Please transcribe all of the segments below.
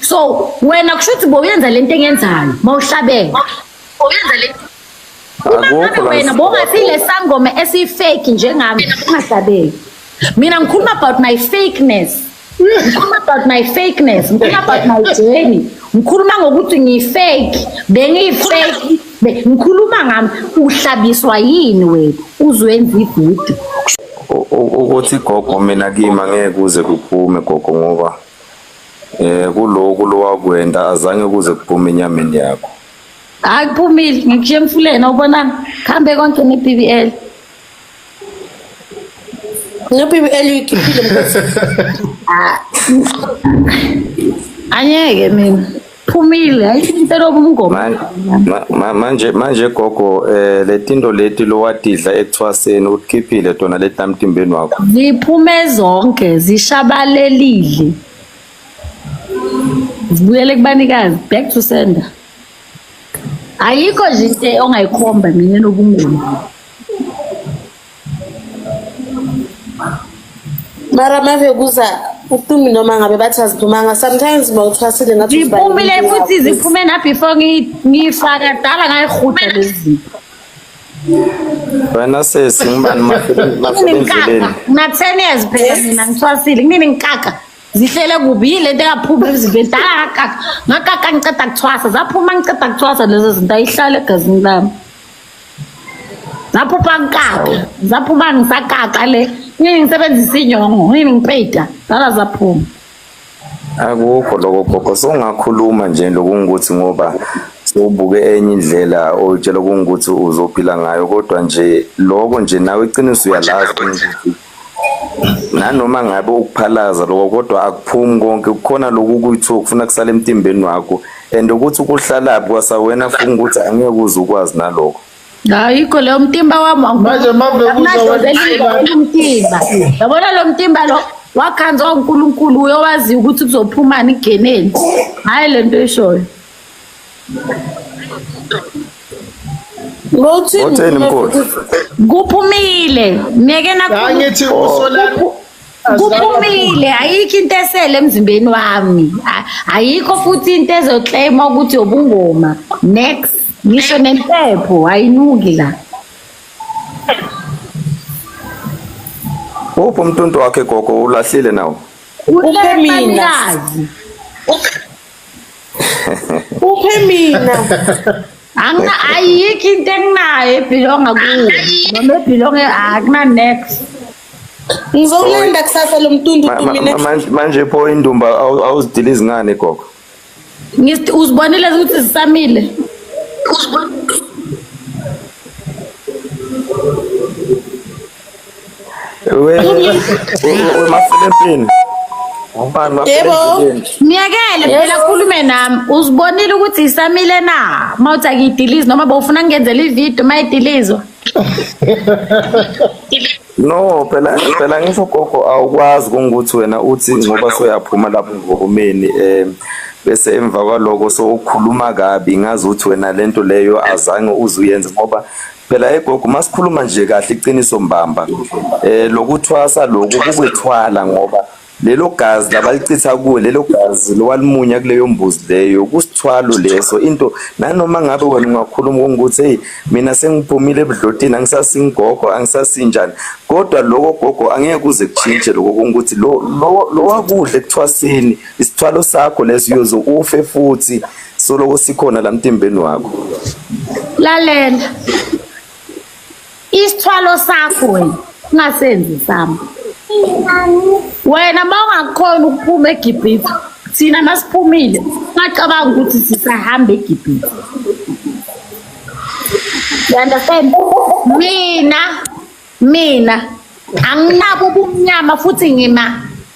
so wena kusho ukuthi bowuyenza lento engenzayo mawuhlabeke bowuyenza lento Akukho la wena bongasile sangoma esifake njengami ungahlabeki mina ngikhuluma about my fakeness ngikhuluma about my fakeness ngikhuluma about my journey ngikhuluma ngokuthi ngiyifake bengiyifake ngikhuluma ngami uhlabiswa yini wena uzwenza ividiyo ukuthi gogo mina kimi angeke kuze kuphume gogo ngoba Eh kuloku lowakwenda azange kuze kuphume enyameni yakho. Hayi kuphumile ngikushiya emfuleni awubona khambe konke ne BBL. No BBL uyikhiphile mfethu. Anyeke mina. phumile ayithinteloko umngoma manje manje gogo eh letinto leti lowadidla ekuthwaseni ukukhiphile tona leti namtimbeni wakho ziphume zonke zishabalelile zibuyele kubanikazi back to sender ayikho nje into ongayikhomba mina nobungoma mara mave kuza uthumi noma ngabe bathi aziphumanga sometimes uma uthwasile ngathi ziphumile futhi ziphume na before ngiyifaka dala ngayirhuda lezi wena sesi ngibani mafilindleleni ngina-ten years phela mina ngithwasile kunini ngikaka zihlele kubi yile nto engaphumi emzimbeni dala ngakaka ngakaka ngiceda kuthwasa zaphuma ngiceda kuthwasa lezo zinto ayihlale egazini lami zaphupha ngikaka zaphupha ngisakaka le ngini ngisebenzisa inyongo ngini ngipeyida zala zaphuma akukho lokho gogo songakhuluma nje lokungukuthi ngoba sowubuke enye indlela oyitshela kungukuthi uzophila ngayo kodwa nje lokho nje nawe iqiniso uyalazi ukuthi nanoma ngabe ukuphalaza lokho kodwa akuphumi konke kukhona lokhu kuyithiwa kufuna kusala emtimbeni wakho and ukuthi kuhlalaphi kwasawena funa ukuthi angeke uze ukwazi nalokho ayikho leyo mtimba wami manje maveuzaumtimba yabona lo mtimba lo wakhanzwa unkulunkulu uyowaziyo ukuthi kuzophumani igeneni hhayi le nto eshoyo Ngothini Ngothini mkhulu. Kuphumile. Ngeke nakhuluma. angithi usolani Kuphumile ayikho into esele emzimbeni wami. A- Ayikho futhi into ezoclaima ukuthi ubungoma. Next. Ngisho nempepho ayinuki la. Uphi umntuntu wakhe gogo ulahlile nawo? Uphumile. Uphumile. Uphe mina. Angina ayikho into enginayo ebhilonga kuyo. Noma ebhilonga akuna next. Ngizowulanda kusasa lo mtundu mina. Manje pho indumba awuzidili izingane gogo. Ngithi uzibonile ukuthi zisamile. Uzibonile wemafilepini yebo myekele phela khulume nami uzibonile ukuthi isamile na uma uthi akiyidilizi noma bowufuna ngenzela ividiyo uma idilizwa no phela phela ngisho gogo awukwazi kungukuthi wena uthi ngoba soyaphuma lapho ngomeni um eh, bese emva kwaloko sowukhuluma kabi ngazi ukuthi wena lento leyo azange uzuyenze ngoba Phela hey gogo masikhuluma nje kahle iqiniso mbamba eh lokuthwasa lokhu kukwethwala ngoba lelo gazi labalichitha kuwe lelo gazi lowalimunya kuleyo mbuzi leyo kusithwalo leso into nanoma ngabe wena ungakhuluma ngokuthi hey mina sengiphumile ebudlotini angisasingogo angisasinjani kodwa lokho gogo angeke kuze kuchinje lokho ukuthi lo lo wakudle kuthwasini isithwalo sakho leso uyoze ufe futhi Soloko sikhona la mtimbeni wakho. Lalela. Isithwalo sakho wena ungasenzi sami. Wena mawungakhona ukuphuma eGibhithe thina masiphumile ngacabanga ukuthi sisahamba eGibhithe. You understand? Mina mina anginabo ubumnyama futhi ngima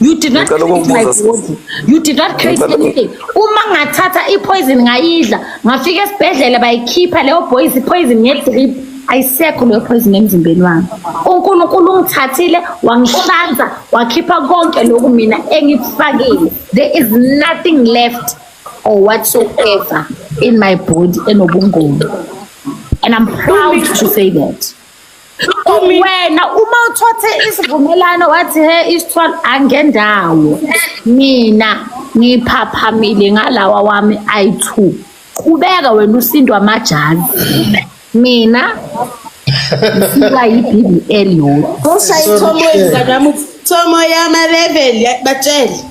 You did not create my body. You did not create anything. Uma ngathatha i-poison ngayidla, ngafika esibhedlela bayikhipha leyo boys i-poison nge-drip. Ayisekho leyo poison emzimbeni wami. UNkulunkulu ungithathile wangihlanza wakhipha konke lokhu mina engikufakile. There is nothing left or whatsoever in my body enobungoma. And I'm proud to say that. wena uma uthothe isivumelwano wathi he isithwalo angendawo mina ngiphaphamile ngalawa wami ayi-two qhubeka wena usindwa amajazi mina ngisuka yi-b b l yodwa usayithomoyizakwamutomo yamalevel batshele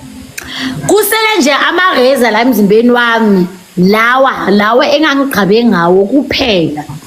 kusele nje amareza la emzimbeni wami lawa lawa engangigqabe ngawo kuphela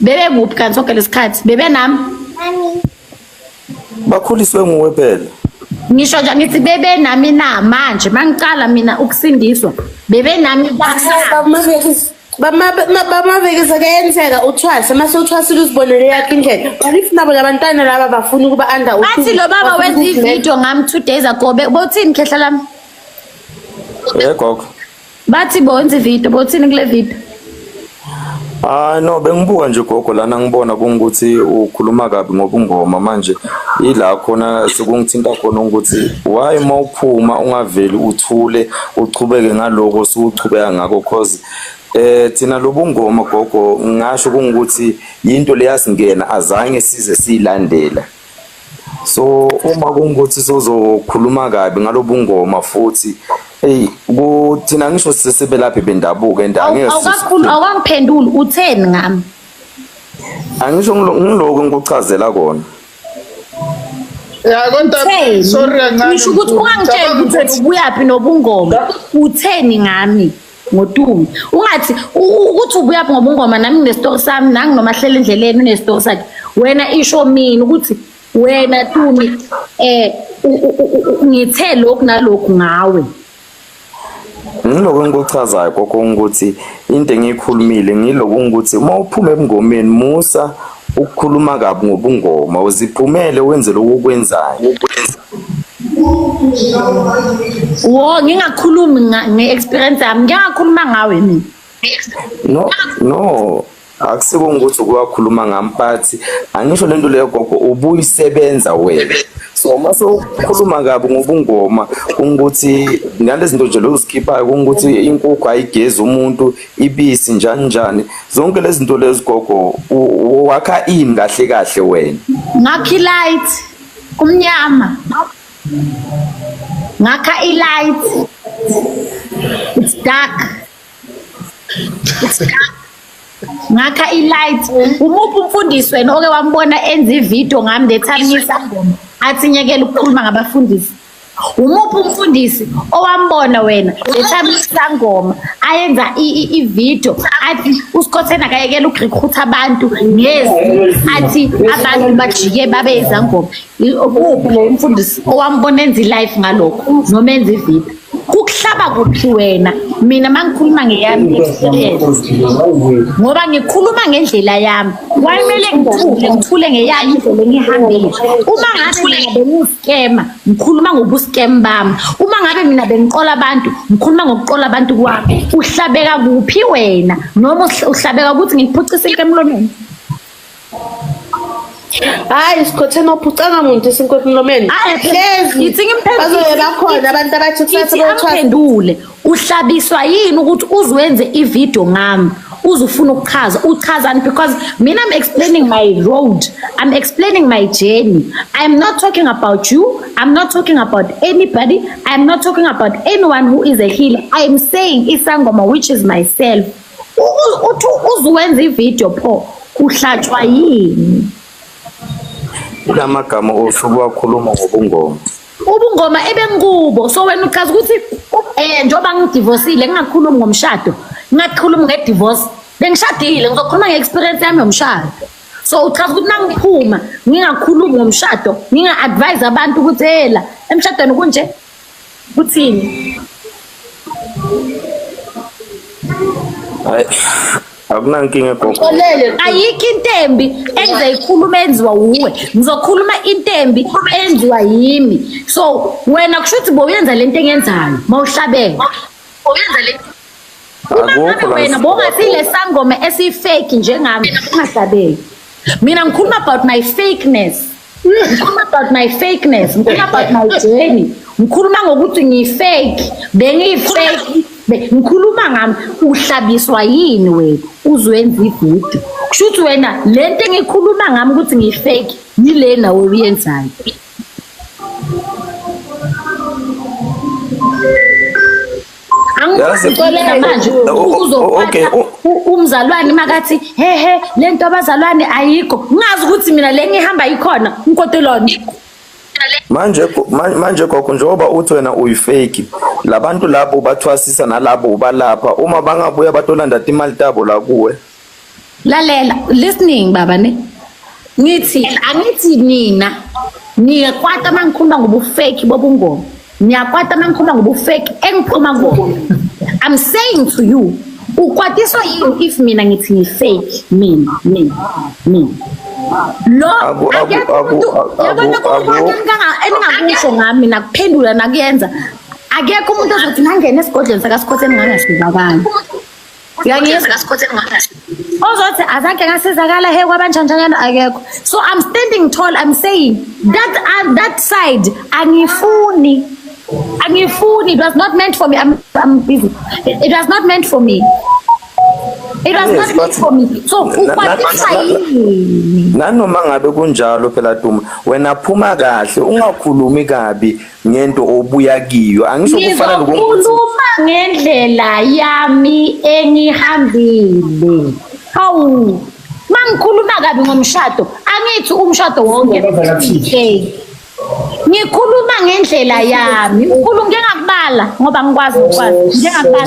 bebe kuphi kanti sonke lesikhathi bebe nami bakhuliswe nguwe phela ngisho nje ngithi bebe nami na manje mangiqala mina ukusindiswa bebe nami bamabekisa kuyenzeka uthwase mase uthwasile uzibonele yakhe indlela but if nabo labantwana laba bafuna ukuba under athi lo baba wenza ivideo ngami two days ago bothini khehla lami yegoko Bathi bonzi video, bothini kule video? Hayi no bengibuka nje gogo lana ngibona kungukuthi ukhuluma kabi ngobungoma manje ila khona sekungithinta khona ukuthi why mawuphuma ungaveli uthule uchubeke ngaloko suchubeka ngakho cause eh thina lobungoma gogo ngasho kungukuthi into leyasingena azange size siyilandela so uma kungukuthi sozokhuluma kabi ngalobungoma futhi hey kuthina ngisho sesebelaphi bendabuko and angeke awukakhulu awukangiphenduli utheni ngami angisho ngiloko ngikuchazela kona ya konta sorry kancane ngisho ukuthi ungangitshela ukuthi ubuyaphi nobungoma utheni ngami ngotume ungathi ukuthi ubuya ngoba ungoma nami nginestory sami nangi noma hlela endleleni unestory sakhe wena isho mina ukuthi wena tumi eh ngithe lokhu nalokhu ngawe ngiloko engikuchazayo kokho ukuthi into engiyikhulumile ngiloko ukuthi uma uphuma ebungomeni musa ukukhuluma kabi ngobungoma uziphumele wenze lokhu okwenzayo wo ngingakhulumi nge-experience yami ngingakhuluma ngawe mina no no akusiko ukuthi ukuwakhuluma ngami but angisho lento leyo gogo ubuyisebenza wena so uma sowukhuluma kabi ngobungoma ukuthi nalezi zinto nje lozikhiphayo ukuthi inkukhu ayigezi umuntu ibisi njani njani zonke lezi zinto lezi gogo wakha ini kahle kahle wena ngakhi light kumnyama ngakha i-light it's dark it's dark ngakha i-light umuphi umfundisi wena oke wambona enza ividiyo ngami the time ngisangoma athi nyekela ukukhuluma ngabafundisi umuphi umfundisi owambona wena lethambi isangoma ayenza ivideo athi usikhotheni akayekela ukurekhutha abantu ngezi athi abantu bajike babe izangoma uphi lo mfundisi owambona enza i-life ngalokho noma enza ivideo kukuhlaba kuphi wena mina mangikhuluma ngeyami experience ngoba ngikhuluma ngendlela yami wayimele ngithule ngithule ngeyami indlela engihambile uma ngathi scammer ngikhuluma ngobuscam bami uma ngabe mina bengiqola abantu ngikhuluma ngokuqola abantu kwami uhlabeka kuphi wena noma uhlabeka ukuthi ngikuphucisa into emlomeni hayi sikhotheni ophucanga muntu isinkwepi emlomeni hlezi bazobe bakhona abantu abathi kusasa baphendule uhlabiswa yini ukuthi uzwenze ivideo ngami uzufuna ukuchaza uchazani because mina i'm explaining my road i'm explaining my journey i'm not talking about you i'm not talking about anybody i'm not talking about anyone who is a healer i'm saying isangoma which is myself uthi uzuwenza ivideo pho uhlatshwa yini kulamagama osuku wakhuluma ngobungoma ubungoma ebengikubo so wena uchaza ukuthi eh njengoba ngidivosile ngingakhulumi ngomshado ngingakhulumi ngedivorce bengishadile ngizokhuluma nge-experience yami yomshado so uchaza ukuthi nangiphuma ngingakhulumi ngomshado nginga-advise abantu ukuthi ela emshadweni kunje kuthini akunankinga gogo ayikho into embi engizoyikhuluma enziwa wuwe ngizokhuluma into embi enziwa yimi so wena kusho ukuthi bowuyenza le nto engenzayo ma uhlabele uma ngabe wena bowungasile sangoma esiyifeki njengami ungahlabeli mina ngikhuluma about my fakeness ngikhuluma about my fakeness ngikhuluma about my journey ngikhuluma ngokuthi ngiyifake bengiyifake be- ngikhuluma ngami uhlabiswa yini wena uzwenza ibhudu kusho ukuthi wena le nto engikhuluma ngami ukuthi ngiyifake yile nawe uyenzayo okay umzalwane makathi hehe lento abazalwane ayikho ngazi ukuthi mina le ngihamba ikhona nkotelona manje manje gogo njengoba uthi wena uyifake labantu labo bathwasisa nalabo ubalapha uma bangabuya batolanda imali tabo la kuwe lalela listening baba ne ngithi angithi nina niyakwata uma ngikhuluma ngobufeki bobungoma niyakwata uma ngikhuluma ngobufeki engiphuma kubona i'm saying to you ukwatiswa yini if mina ngithi ngifake mina mina mina lo eningakusho ngami mina kuphendula nakuyenza akekho umuntu ozothi nangena esigodlweni sakasikhotheni ngangasizakala uyangizwa ozothi azange ngasizakala he kwabanjanjanyana akekho so i'm standing tall i'm saying that, uh, that side angifuni angifuni it was not meant for me i'm, I'm busy it, it was not meant for me it was yes, not meant for me so ukwatisa yini nanoma ngabe kunjalo phela duma wena phuma kahle ungakhulumi kabi ngento obuya kiyo angisho kufana nokukhuluma ngendlela yami engihambile hawu mangikhuluma kabi ngomshado angithi umshado wonke ngikhuluma ngendlela yami ukhuluma ngengakubala ngoba ngikwazi ukwazi ngengakubala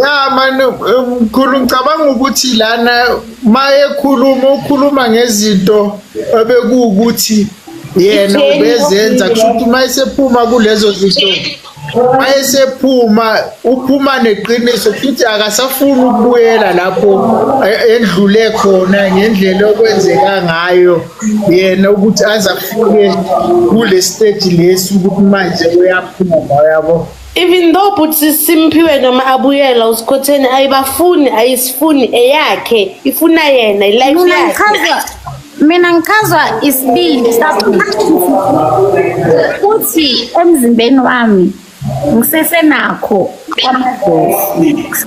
ya mani mkhulu ngicabanga ukuthi lana uma ekhuluma ukhuluma ngezinto ebekuwukuthi yena ubezenza kusho ukuthi uma esephuma kulezo zinto uma esephuma uphuma neqiniso futhi akasafuni ukubuyela lapho e, endlule khona ngendlela okwenzeka ngayo yena ukuthi aze afike kule stage lesi ukuthi manje uyaphuma yabo even though bhuti simphiwe noma abuyela usikhotheni ayibafuni ayisifuni eyakhe ifuna yena ilife mina yakhe ngichazwa mina ngichazwa isibindi ukuthi emzimbeni wami ngisesenakho kwamadlozi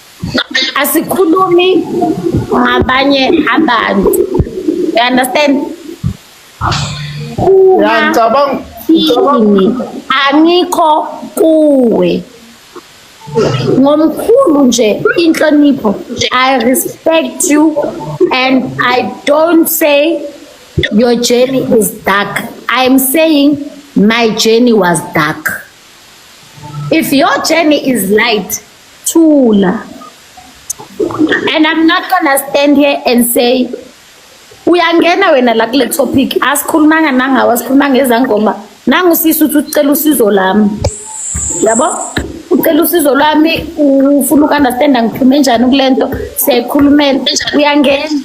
asikhulumi ngabanye abantu you understand ngiyacabanga angikho kuwe ngomkhulu nje inhlonipho i respect you and i don't say your journey is dark i am saying my journey was dark if your journey is light Thula. And I'm not gonna stand here and say uyangena wena la kule topic asikhulumanga nangawo asikhulumanga ezangoma nangu sisi uthi ucela usizo lami yabo ucela usizo lwami ufuna uku-understand angiphume njani kule nto siyayikhulumela uyangena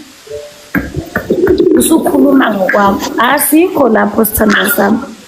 usukhuluma ngokwakho asikho lapho sithandwa sami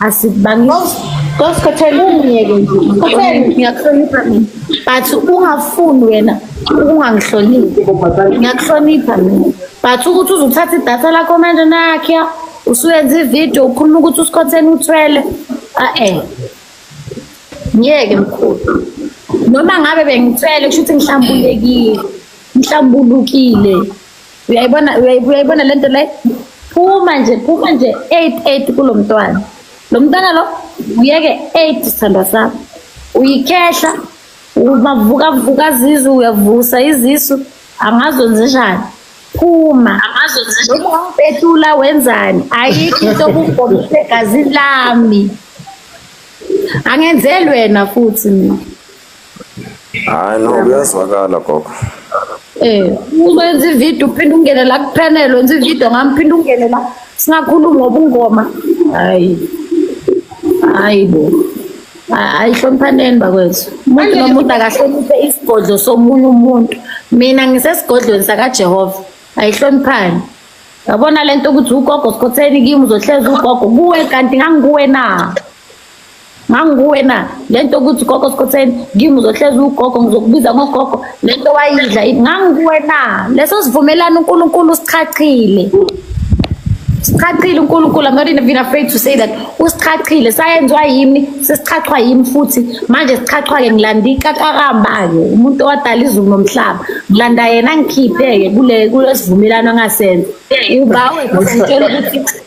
asibangisi kosikhothela umyeke nje ngiyakuhlonipha mina but ungafuni wena ukungangihloniphi ngiyakuhlonipha mina but ukuthi uzothatha idatha lakho manje nakhe usuyenza ividiyo ukhuluma ukuthi usikhotheni uthwele a-e ngiyeke mkhulu noma ngabe bengithwele kusho ukuthi ngihlambulekile ngihlambulukile uyayibona uyayibona le nto le phuma nje phuma nje eight eight kulo mntwana lo mntwana lo uyeke eight sithandwa sami uyikhehla umavukavuka zizu uyavusa izisu angazi wenzishani phuma angazi wenzishani betula wenzani ayikho into okugomisa egazini lami angenzelwena futhi mina Hayi no kuyazwakala gogo. Eh, uma enza ivideo uphinde ungene la kuphela wenza ivideo ngami phinde ungene la singakhulumi ngobungoma. Hayi. Hayi bo. Ayihloniphaneni bakwethu. Umuntu nomuntu akahloniphe isigodlo somunye umuntu. Mina ngisesigodlweni sakaJehova. Ayihloniphani. Yabona lento ukuthi ugogo sikhotheni kimi uzohleza ugogo kuwe kanti ngangikuwe na. nganguwena le nto ukuthi gogo sikhotheni kimi uzohlezi ugogo ngizokubiza ngogogo le nto wayidla nganguwena leso sivumelana unkulunkulu usichachile sichachile unkulunkulu i'm not even afraid to say that usichachile sayenziwa yimi sesichachwa yimi futhi manje sichachwa-ke ngilanda ikakarambayo umuntu owadala izulu nomhlaba ngilanda yena ngikhiphe-ke kule kulesivumelwano angasenza ubawe ngitshela ukuthi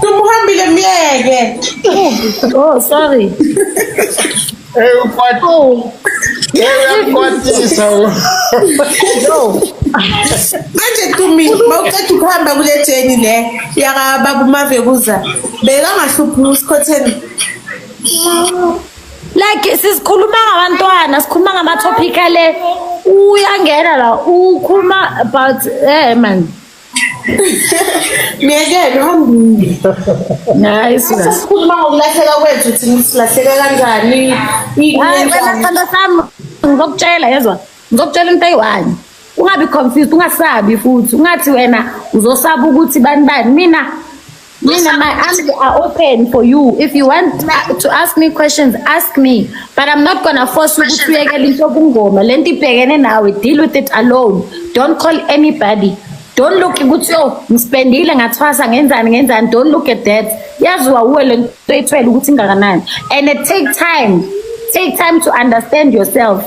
Tumuhambile myeke. Oh sorry. Hey ukwati. Oh. Hey ukwatisa. No. Manje Tumi mawuqeda ukuhamba kule jeni le yaka babu mave kuza. Beka ngahluphi usikhotheni. Like sisikhuluma ngabantwana, sikhuluma ngama topic ale. Uyangena la ukhuluma about eh man. Myekele uhambile. Hayi sina. Sesikhuluma ngokulahleka kwethu thina silahleka kanjani? Hayi wena sithando sami ngizokutshela yezwa. Ngizokutshela into eyi-one. Ungabi confused, ungasabi futhi. Ungathi wena uzosaba ukuthi bani bani. Mina Mina, my arms are open for you. If you want uh, to ask me questions, ask me. But I'm not gonna force you to uyekele into kungoma. Le nto ibhekene nawe, deal with it alone. Don't call anybody. Don't look ukuthi yo ngispendile ngathwasa ngenzani ngenzani. Don't look at that. Yaziwa uwe le nto ethwele ukuthi ingakanani. And it take time. Take time to understand yourself.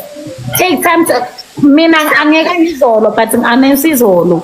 Take time to mina angeke ngizolo but anensizolo.